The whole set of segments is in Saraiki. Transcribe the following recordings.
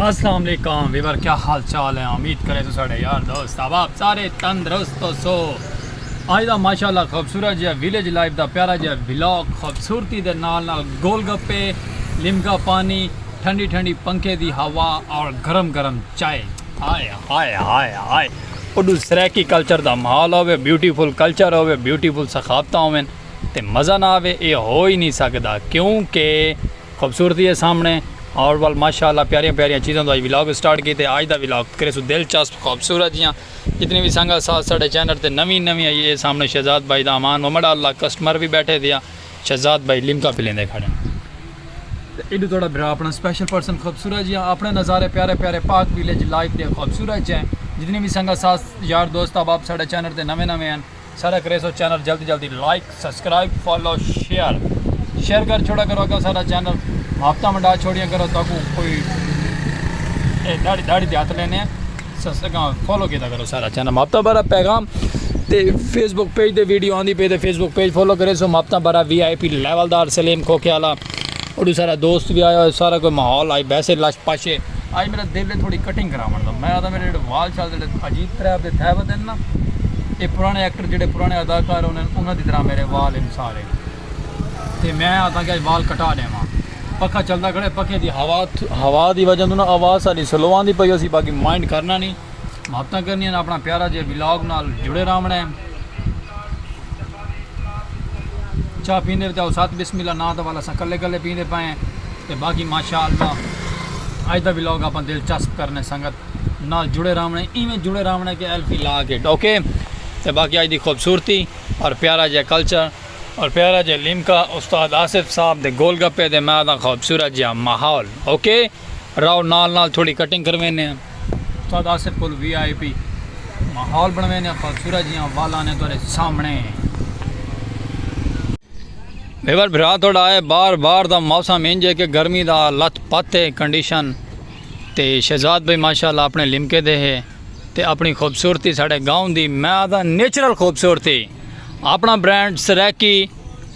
السلام علیکم ویور کیا حال چال ہے امید کرے تو ساڑے یار دوست احباب سارے تندرست ہو سو آج دا ماشاءاللہ خوبصورت جہا ویلیج لائف دا پیارا جہا ولاگ خوبصورتی دے نال نال گول گپے لمکا پانی ٹھنڈی ٹھنڈی پنکھے دی ہوا اور گرم گرم چائے ہائے ہائے ہائے ہائے اڈو سریکی کلچر دا ماحول ہوے بیوٹیفل کلچر ہوے بیوٹیفل ثقافتاں ہوے تے مزہ نہ آوے اے ہو ہی نہیں سکدا کیونکہ خوبصورتی ہے سامنے اور ول ماشاء اللہ پیاریاں پیاریاں چیزاں توں اج ولاگ سٹارٹ کیتے اج دا ولاگ کرے سو دلچسپ خوبصورت جیاں جتنی وی سنگت ساتھ ساڈے چینل تے نویں نویں ائی اے سامنے شہزاد بھائی دا امان ومڑا اللہ کسٹمر وی بیٹھے دیا شہزاد بھائی لمکا پلیندے کھڑے تے ایڈو تہاڈا بھرا اپنا سپیشل پرسن خوبصورت جیاں اپنے نظارے پیارے پیارے پاک ویلیج لائف دے خوبصورت جیاں جتنی وی سنگت ساتھ یار دوست احباب ساڈے چینل تے نویں نویں ہیں ساڈا کریسو چینل جلدی جلدی like subscribe follow share share کر چھوڑا کرو اگا ساڈا چینل آفتاں ونڈا چھوڑیاں کرو تاکو کوئی اے داڑی داڑی دے ہاتھ لینے ہیں سسکاں فالو کیتا کرو سارا چینل ماپتا برا پیغام تے فیس بک پیج دے ویڈیو آندی پے تے فیس بک پیج فالو کرے سو ماپتا برا وی آئی پی لیول دار سلیم کھوکھے والا اوڈی سارا دوست وی آیا ہوئے سارا کوئی ماحول آئی بیسے لش پش ہے آج میرا دل ہے تھوڑی کٹنگ کراون دا میں آدھا میرے جڑے وال شال جڑے عجیب طرح دے تھے ہوئے نا اے پرانے ایکٹر جڑے پرانے اداکار ہونے انہاں دی طرح میرے وال ہیں سارے تے میں آدھا کہ وال کٹا دے ماں پکھا چلدا کھڑے پکھے دی ہوا ہوا دی وجہ نا آواز ساری سلو آندی پئی ہو سی باقی مائنڈ کرنا نہیں محبتاں کرنی ہیں اپنا پیارا جے ولاگ نال جڑے رہونے ہیں چاہ پیندے وچ اوسط بسم اللہ ناں دا والا اساں کلے کلے پیندے پئے ہیں تے باقی ماشاءاللہ اج دا ولاگ اپاں دلچسپ کرنے سنگت نال جڑے راونے ایویں جڑے راونے کہ ایل پی لا کے ڈوکے تے باقی اج دی خوبصورتی اور پیارا جے کلچر اور پیارا جے لیمکا استاد آصف صاحب دے گول گپے دے میں آدھا خوبصورت جے ماحول اوکے راؤ نال نال تھوڑی کٹنگ کرویندے ہن۔ استاد آصف کولوں وی آئی پی ماحول بنڑویندے ہن خوبصورت جیاں والاں نے تہاڈے سامنے۔ ویور بھرا تہاڈا اے بار بار دا موسم انج اے کہ گرمی دا لت پت اے کنڈیشن تے شہزاد بھائی ماشاءاللہ اپنے لمکے دے ہے تے اپنی خوبصورتی ساڈے گاؤں دی میں آدھاں نیچرل خوبصورتی اپنا برانڈ سرائیکی۔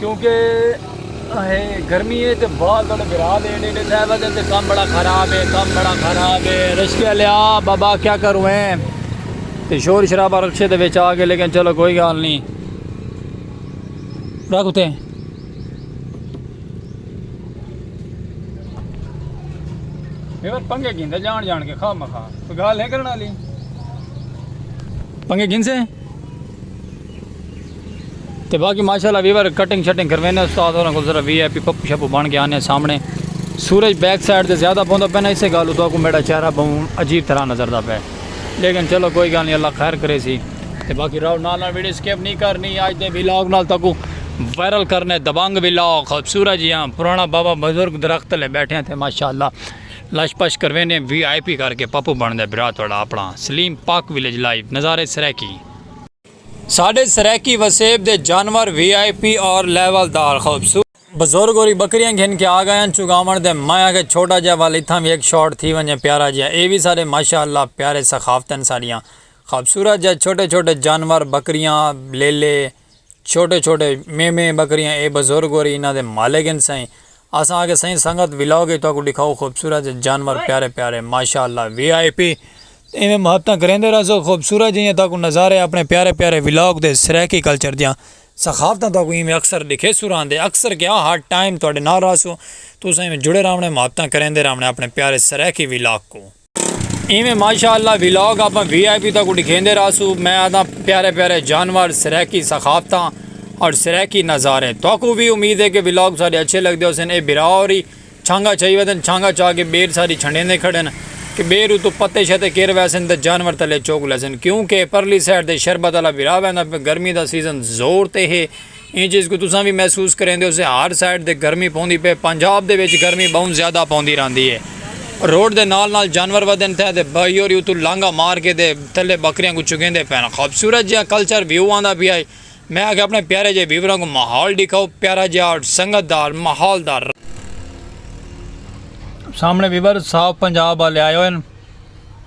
کیونکہ گرمی ہے تے بال تھوڑے برا دے نے تے صاحب دے تے کم بڑا خراب ہے کم بڑا خراب ہے رشکے والے آ بابا کیا کروں ہیں تے شور شرابہ رکشے دے وچ آ گئے لیکن چلو کوئی گال نہیں رکھ اتے ایور پنگے گھن دے جان جان کے خواہ مخواہ تو گال ہے کرنا لی پنگے گھن سے تے باقی ماشاءاللہ ویور کٹنگ شٹنگ کروینے استاد ہوراں کو ذرا وی آئی پی پپ شپ بن کے آنے سامنے سورج بیک سائیڈ تے زیادہ پوندا پے نا اسے گالو تو کو میرا چہرہ بہوں عجیب طرح نظر دا پے لیکن چلو کوئی گال نہیں اللہ خیر کرے سی تے باقی راو نال نال ویڈیو سکپ نہیں کرنی آج دے ویلاگ نال تکو وائرل کرنے دبنگ ویلاگ خوبصورت جیاں پرانا بابا بزرگ درخت لے بیٹھے ہیں تے ماشاءاللہ لش پش کروینے وی آئی پی کر کے پپو بن دے برا توڑا اپنا سلیم پاک ویلیج لائیو نظارے سرے کی ساݙے سرائیکی وسیب دے جانور وی آئی پی اور لیول دار خوبصورت۔ بزرگ ہوری بکریاں گھن کے آگئین چگاوݨ تے میں آکھیا چھوٹا جیا ول اتھاں وی ہک شاٹ تھی ونجے پیارا جیا اے وی ساݙے ماشاء اللہ پیارے ثقافت ہن ساݙیاں خوبصورت جئے چھوٹے چھوٹے جانور بکریاں لیلے چھوٹے چھوٹے میمے بکریاں اے بزرگ ہوری انہاں دے مالک ہن سئیں اساں آکھیا سائیں سنگت ولاگ اچ تہاکوں ڈکھاؤ خوبصورت جے جانور پیارے پیارے ماشاء اللہ وی آئی پی تے ایویں محبتاں کریندے رہسو خوبصورت جیہیاں تہاکوں نظارے اپنے پیارے پیارے ولاگ دے سرائیکی کلچر دیاں ثقافتاں تہاکوں ایویں اکثر ڈکھیسوں رہندے اکثر کیا ہر ٹائم تہاڈے نال رہسوں تساں ایویں جڑے راہونے محبتاں کریندے راہونے اپنے پیارے سرائیکی ولاگ کوں۔ ایویں ماشاءاللہ ویلاگ اپاں وی آئی پی تک ڈکھیندے رہسو میں آدھا پیارے پیارے جانور سرائیکی ثقافتاں اور سرائیکی نظارے تو کو بھی امید ہے کہ ویلاگ سارے اچھے لگ دے حسین اے برا اور ہی چھانگا چھائی ویدن چھانگا چھا کے بیر ساری چھنڈیں دے کھڑے ہیں کہ بیر اتو پتے شتے کیر ویسن تے جانور تلے چوک لیسن کیونکہ پرلی سیڈ تے شربت اللہ برا ویندہ پہ گرمی دا سیزن زور تے ہے ایں چیز کوں تساں وی محسوس کریندے ہوسے ہر سائیڈ تے گرمی پوندی پئے پنجاب دے وچ گرمی بہوں زیادہ پوندی راہندی ہے روڈ دے نال نال جانور ودھن تھے تے بہیوری اتوں لانگھا مار کے تے تھلے بکریاں کوں چگیندے پئے ہن خوبصورت جیہا کلچر ویو آندا پیا ہے میں آکھیا اپنے پیارے جیہے ویوراں کوں ماحول ڈکھاؤ پیارا جیہا سنگت دا ماحول دا۔ سامنے ویور صاف پنجاب والے آئے ہوئے ہن۔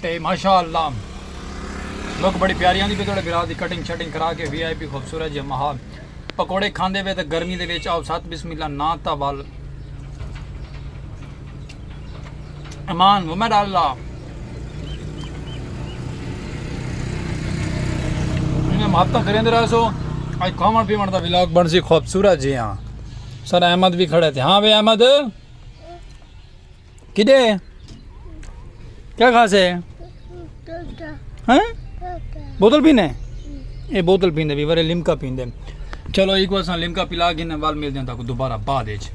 تے ماشاء اللہ لوک بڑی پیاری آندی پی تہاڈے برا دی کٹنگ شٹنگ کرا کے وی آئی پی خوبصورت جے ماحول پکوڑے کھاندے پے تے گرمی دے وچ آو سات بسم اللہ نا تا ول امان ومن اللہ انہیں محبتہ کریں دے رہا سو آج کھاون پیون دا ولاگ بن سی خوبصورت جے ہاں سر احمد بھی کھڑے تھے ہاں بے احمد کڈے کیا کھاسے بوتل پینے اے بوتل پیندے بھی ورے لمکا پیندے چلو ایک بار سان لمکا پلا گھنے وال مل جاندہ کو دوبارہ بعد ایچ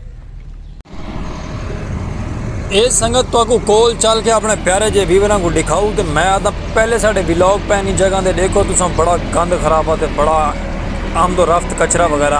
اے سنگت تو اکو کول چل کے اپنے پیارے جے ویوران کو دکھاؤ تے میں آتا پہلے ساڑے ویلوگ پہنی جگہ دے دیکھو تو سان بڑا گند خرابہ تے بڑا آمد و رفت کچرہ وغیرہ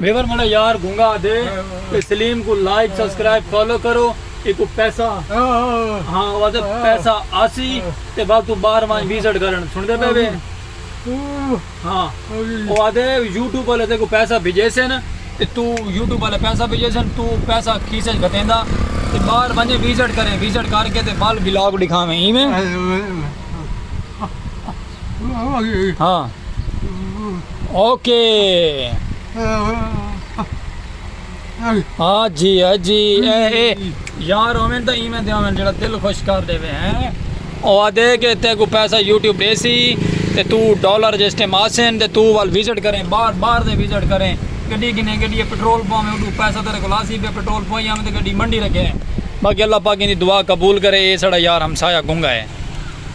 میور مڑا یار گونگا دے تے سلیم کو لائک سبسکرائب فالو کرو ایکو پیسہ ہاں واسے پیسہ آسی تے بعد تو بار وائیں ویزٹ کرن سن دے پہ وے ہاں واسے یوٹیوب والے تے کو پیسہ بھیجے سن تے تو یوٹیوب والے پیسہ بھیجے سن تو پیسہ کیسے گھتیندا تے بار وائیں ویزٹ کریں ویزٹ کر کے تے بال بلاگ دکھاویں ایویں ہاں اوکے ہاں جی ہاں جی اے اے یار ہومن تو ایمیں دے ہومن جڑا دل خوش کر دے وے ہیں او آدھے کہ تے کو پیسہ یوٹیوب دے سی تے تو ڈالر جے استعمال سین تے تو وال وزٹ کریں بار بار دے وزٹ کریں گڈی گنے گڈی پٹرول پاویں اڈو پیسہ تیرے کو لاسی پہ پٹرول پوائیں آمد گڈی منڈی رکھے باقی اللہ پاک ان دی دعا قبول کرے اے سڑا یار ہمسایہ گنگا ہے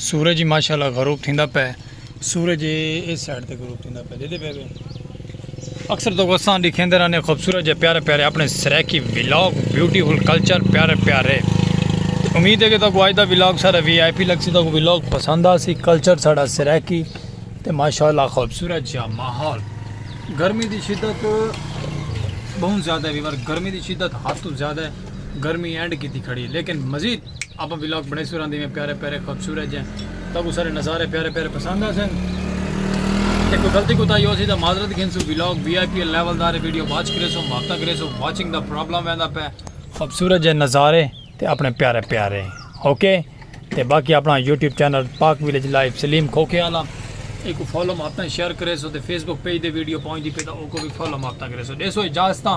سورج ماشاءاللہ غروب تھیندا پے سورج اس سائیڈ تے غروب تھیندا پے دیدے پے اکثر تو وساں دکھیندے رہنے خوبصورت جے پیارے پیارے اپنے سریکی ویلاگ بیوٹیفل کلچر پیارے پیارے امید ہے کہ تاکو آج دا ویلاگ سارا وی آئی پی لگ سی تاکو ویلاگ پسند آ سی کلچر سارا سریکی تے ماشاءاللہ خوبصورت جا ماحول گرمی دی شدت بہت زیادہ ہے ویور گرمی دی شدت حد تو زیادہ ہے گرمی اینڈ کی تھی کھڑی ہے لیکن مزید آپاں ولاگ بنڑیسوں رہندے میں پیارے پیارے خوبصورت جے تاکو سارے نظارے پیارے پیارے پسند آسن تے کوئی غلطی کوتا ہی ہو سی دا معذرت گھنسو vlog V I P level دارے ویڈیو واچ کرے سو ماپتا کرے سو واچنگ دا پرابلم ویندا پہ خوبصورت جے نظارے تے اپنے پیارے پیارے اوکے تے باقی اپنا YouTube channel Pak village life Saleem کھوکھے والا ایک کو فالو ماپتا شیئر کرے سو تے فیس بک پیج دے ویڈیو پہنچ دی پہ دا اوکو بھی فالو ماپتا کرے سو دے سو اجازتاں